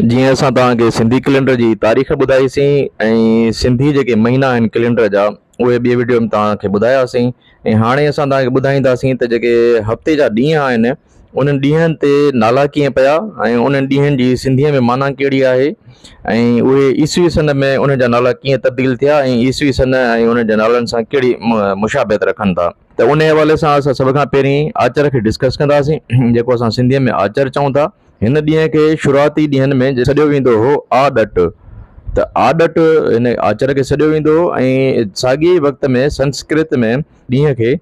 جيئن اسان توهان کي سنڌي ڪلينڊر جي تاريخ ٻڌائيسين ۽ سنڌي جيڪي مهينا آهن ڪلينڊر جا اهي ٻي وڊيو ۾ توهان کي ٻڌاياسين ۽ هاڻي اسان توهان کي ٻڌائينداسين ته جيڪي هفتي جا ڏينهن آهن انهن ڏينهن تي نالا ڪيئن پيا ۽ انهن ڏينهن جي سنڌيء ۾ معنيٰ ڪهڙي آهي ۽ اهي عيسوي سن ۾ انهن جا نالا ڪيئن تبديل ٿيا ۽ عيسوي سن ۽ انهن جي نالن سان ڪهڙي مشابهت رکن ٿا. ته انهيء حوالي سان اسان سڀ کان پهرين آچر کي ڊسڪس ڪنداسين جيڪو اسان سنڌيء ۾ آچر چئون ٿا. هن ڏينهن کي شروعاتي ڏينهن ۾ سڏيو ويندو هو آء ڏٽ ته آء ڏٽ هن آچر کي سڏيو ويندو هو ۽ ساڳئي ئي وقت ۾ سنسڪرت ۾ ڏينهن کي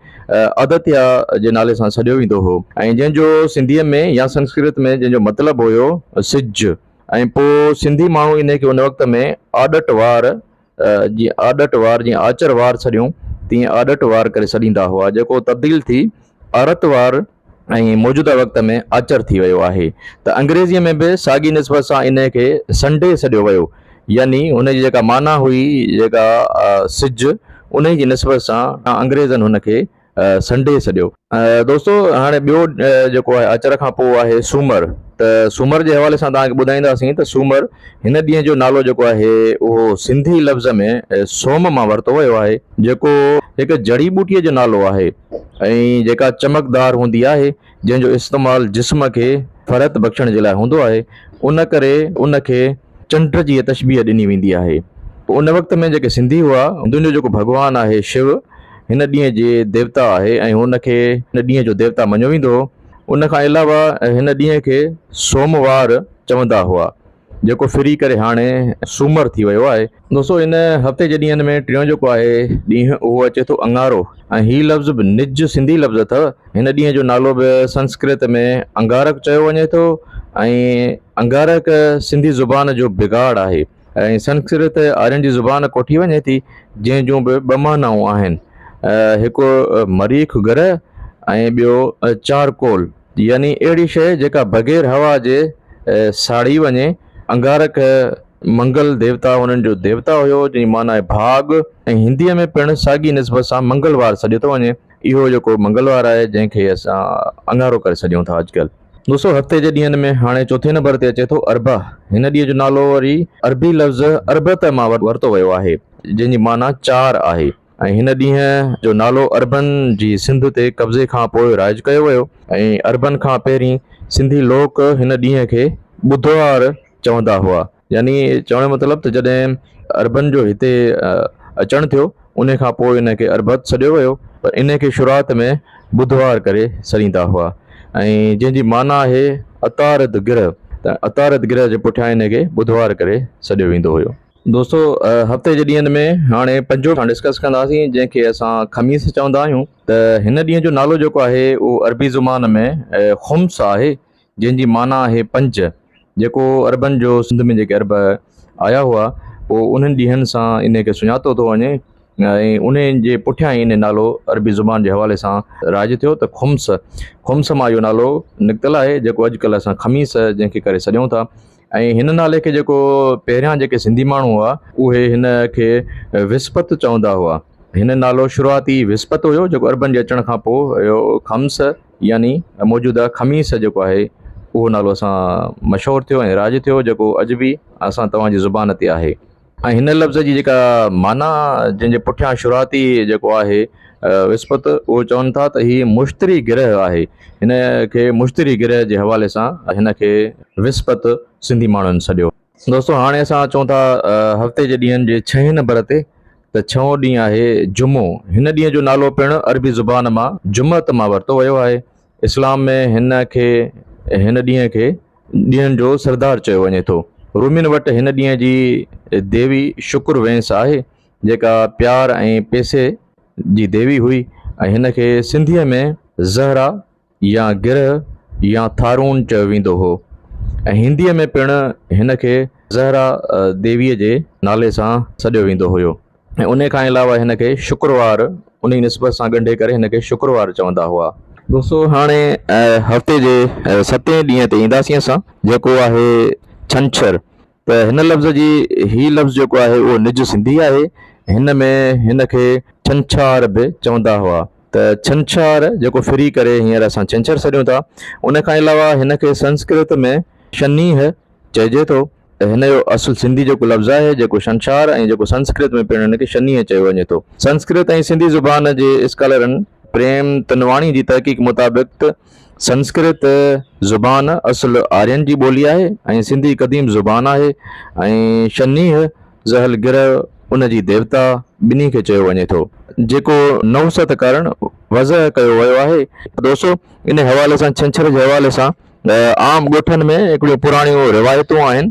ادتيا جي نالي سان سڏيو ويندو هو ۽ جنهن جو سنڌيء ۾ يا سنسڪرت ۾ جنهن جو مطلب هيو سج ۽ پوء سنڌي ماڻهو انهي کي ان وقت ۾ آڏٽ وار جيئن آڏٽ وار جيئن آچر وار سڏيون تيئن آڏٽ وار ڪري سڏيندا هئا جيڪو تبديل ٿي آرت وار ۽ موجوده وقت ۾ آچر ٿي ويو آهي ته انگريزيء ۾ به ساڳي نسبت سان انهيء کي سنڊي سڏيو ويو يعني هن جي جيڪا معنيٰ هئي جيڪا سج انهيء جي نسبت سان انگريزن هن کي سنڊي سڏيو. دوستو هاڻي ٻيو جيڪو آهي اچر کان پوء آهي سومر ته سومر جي حوالي سان توهان کي ٻڌائينداسين ته سومر هن ڏينهن جو نالو جيڪو آهي اهو سنڌي لفظ ۾ سوم مان ورتو ويو آهي جيڪو هڪ جڙي ٻوٽي جو نالو آهي ۽ جيڪا چمڪدار هوندي آهي جنهن جو استعمال جسم کي فرحت بخشڻ جي لاء هوندو آهي ان ڪري ان کي چنڊ جي تشبيهه ڏني ويندي آهي پوء ان وقت ۾ جيڪي سنڌي هئا هندوئن جو جيڪو ڀڳوان آهي شو هن ڏينهن جي ديوتا آهي ۽ هن کي هن ڏينهن جو ديوتا مڃيو ويندو هو ان کان علاوه هن ڏينهن کي سوموار چوندا هئا. جيڪو ڦري ڪري هاڻي سومر ٿي ويو آهي. دوستو ان هفتي جي ڏينهن ۾ ٽيون جيڪو آهي ڏينهن اهو اچي ٿو اڱارو ۽ هي لفظ به نج سنڌي لفظ اٿئو. هن ڏينهن جو نالو به سنسڪرت ۾ انگارڪ چيو وڃي ٿو ۽ انگارڪ سنڌي زبان جو بگاڙ آهي ۽ سنسڪرت آرين جي زبان ڪوٺي وڃي ٿي جنهن جون به ٻه معنائون آهن هڪ مريخ گرهه ۽ ٻيو چارڪول. يعني اهڙي شيء جيڪا بغير هوا جي ساڙي وڃي. انگارڪ منگل ديوتا هنن جو ديوتا هيو جنهن جي معنيٰ آهي ڀاڳ ۽ هنديء ۾ پڻ ساڳي نسبت سان منگلوار سڏيو ٿو وڃي. اهو جيڪو منگلوار آهي جنهن کي اسان اڱارو ڪري سڏيون ٿا اڄڪلهه. دوستو هفتي جي ڏينهن ۾ هاڻي چوٿين نمبر تي اچي ٿو اربع. هن ڏينهن جو نالو وري عربي لفظ اربعة مان ورتو ويو آهي جنهن جي معنيٰ چار آهي. ۽ هن ڏينهن جو نالو عربن جي سنڌ تي قبضي کان پوء رائج ڪيو ويو ۽ عربن کان پهرين سنڌي لوڪ هن ڏينهن کي ٻڌوار چوندا هئا يعني چوڻ جو مطلب ته جڏهن عربن جو هتي اچڻ ٿيو انهي کان پوء ان کي عربت سڏيو ويو پر انهي کي شروعات ۾ ٻڌوار ڪري سڏيندا هئا ۽ جنهن جي معنيٰ آهي عطارد گرهه ته عطارد گرهه جي پٺيان انهي کي ٻڌوار ڪري سڏيو ويندو هيو. دوستو هفتي جي ڏينهن ۾ هاڻي پنجو کان ڊسڪس ڪنداسين جنهن کي اسان خميس چوندا آهيون ته هن ڏينهن جو نالو جيڪو آهي اهو عربي زبان ۾ خمس آهي جنهن جي معنيٰ آهي پنج جيڪو عربن جو سنڌ ۾ جيڪي عرب آيا هئا پوء انهن ڏينهن سان ان کي سڃاتو ٿو وڃي ۽ ان جي پٺيان ان نالو عربي زبان جي حوالي سان رائج ٿيو ته خمس خمس مان اهو نالو نڪتل آهي جيڪو اڄڪلهه اسان خميس جنهن کي ڪري سڏيون ٿا ۽ هن نالي کي جيڪو پهريان جيڪي سنڌي ماڻهو هئا اهي هن کي وسپت چوندا هئا. هن نالو شروعاتي وسپت هيو جيڪو عربن جي اچڻ کان پوء اهو خمس يعني موجوده خميس جيڪو آهي اهو نالو اسان مشهور ٿيو ۽ رائج ٿيو جيڪو اڄ به اسان توهان جي زبان تي آهي. ۽ هن لفظ جي جيڪا معنيٰ جنهن جي پٺيان شروعاتي جيڪو آهي وسپت اهو چون ٿا ته هي مشتري گرهه آهي هن کي مشتري گرهه جي حوالي سان هن کي وسپت سنڌي ماڻهن سڏيو. دوستو هاڻي اسان اچون ٿا هفتي جي ڏينهن جي ڇهين نمبر تي ته ڇهون ڏينهن آهي جمعو هن ڏينهن جو نالو پڻ عربي زبان مان جمعت مان ورتو ويو آهي. اسلام ۾ هن کي هن ڏينهن کي ڏينهن جو سردار چيو وڃي ٿو. رومين وٽ هن ڏينهن جي ديوي شڪر وينس آهي جيڪا پيار ۽ پيسي جي ديوي هئي ۽ هن کي سنڌيء ۾ زهره يا گرهه يا ٿارون چيو ويندو هو ۽ هنديء ۾ پڻ هن کي زهره ديويء جي نالي سان سڏيو ويندو هيو. ۽ انهي کان علاوه هن کي شڪروار انهي نسبت سان ڳنڍي ڪري هن کي شڪروار چوندا هئا. دوستو هاڻي هفتي جي ستين ڏينهن تي اينداسين اسان جيڪو آهي ڇنڇر ته هن لفظ جي هي لفظ جيڪو آهي اهو نج سنڌي آهي هن ۾ هن کي ڇنڇار به چوندا هئا ته ڇنڇار جيڪو ڦري ڪري هينئر اسان ڇنڇر سڏيون ٿا انهي کان علاوه هن کي سنسڪرت ۾ شنيهه چئجي ٿو. هن جو اصل سنڌي جيڪو لفظ آهي، جيڪو شنشار ۽ جيڪو سنسڪرت ۾ پڻ هن کي شنيهه چيو وڃي ٿو. سنسڪرت ۽ سنڌي زبان جي اسڪالرن پريم تنواڻي جي تحقيق مطابق ته سنسڪرت زبان اصل آرين جي ٻولي آهي ۽ سنڌي قديم زبان آهي ۽ شنيهه زحل گرهه ان جي ديوتا ٻنهي کي چيو وڃي ٿو. جيڪو نحوست ڪارڻ وضع ڪيو ويو آهي. دوستو انهي حوالي سان ڇنڇر جي حوالي سان عام ڳوٺن ۾ هڪڙيون پراڻيون روايتون آهن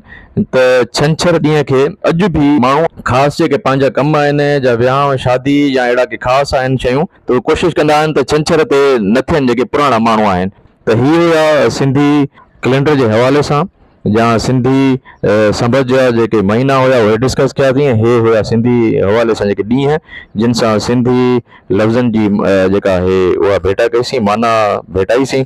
ته ڇنڇر ڏينهن کي اڄ به ماڻهو خاص جيڪي پنهنجا ڪم آهن جا ويهانء شادي يا اهڙا ڪي خاص آهن شيون ته اهي ڪوشش ڪندا آهن ته ڇنڇر تي نه ٿين جيڪي پراڻا ماڻهو آهن ته هي هيا سنڌي ڪلينڊر جي حوالي سان يا سنڌي سنبت جا جيڪي مهينا هيا اهي ڊسڪس ڪيا تين هي هيا سنڌي حوالي سان جيڪي ڏينهن جن سان سنڌي لفظن جي جيڪا آهي اها ڀيٽا ڪئي سين معنيٰ ڀيٽائي سين.